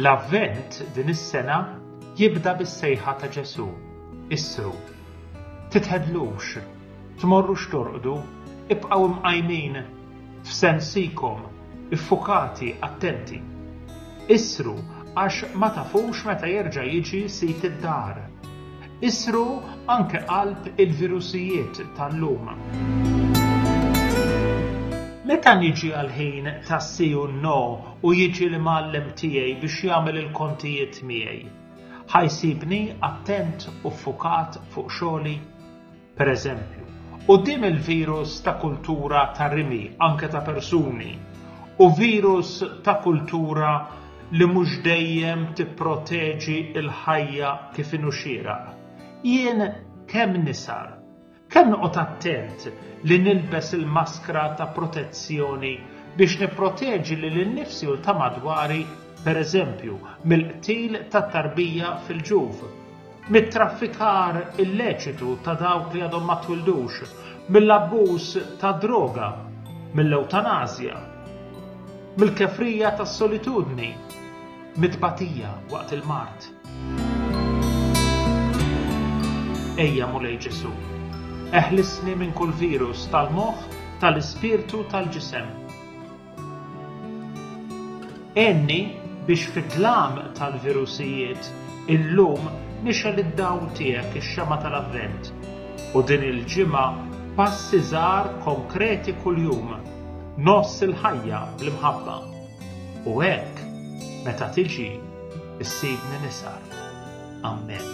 L-Avvent din is-sena jibda bis-sejħa ta' Ġesù, Issru. Titħedlux, tmorrux torqdu, ibqgħu mqajmin f'sensikom, iffukati, attenti. Issru għax ma tafux meta jerġa' jiġi sid id-dar. Isru anke qalb il-virusijiet tal-lum. Meta niġi għall-ħin ta' si u no u jiġi l-imgħallem tiegħi biex jagħmel il-kontijiet miegħi, ħa jsibni attent u ffukat fuq xogħli? pereżempju, quddiem il-virus ta' kultura ta' rimi anke ta' persuni u virus ta' kultura li mhux dejjem tipproteġi l-ħajja kif inhu xieraq, jien kemm nisar, kemm noqgħod attent li nilbes il-maskra ta' protezzjoni biex nipproteġi lil innifsi u l-ta' madwari, pereżempju, mill-qtil tat-tarbija fil-ġuf. mit-traffikar illeċitu ta' dawk li għadhom ma twildux, mill-abbuż tad-droga, mill-ewtanasja, mill-kefrija tas-solitudni, mit-tbatija waqt il-mard. Ejja, Mulej Ġesù, eħlisni minn kull virus tal-moħħ, tal-ispirtu, tal-ġisem. Għenni biex fid-dlam tal-virusijiet illum nixgħel id-dawl tiegħek, ix-xemgħa tal-Avvent, u din il-ġimgħa b'passi żgħar konkreti kuljum ngħożż il-ħajja bl-imħabba u hekk meta tiġi ssibni nisgħar. Amen.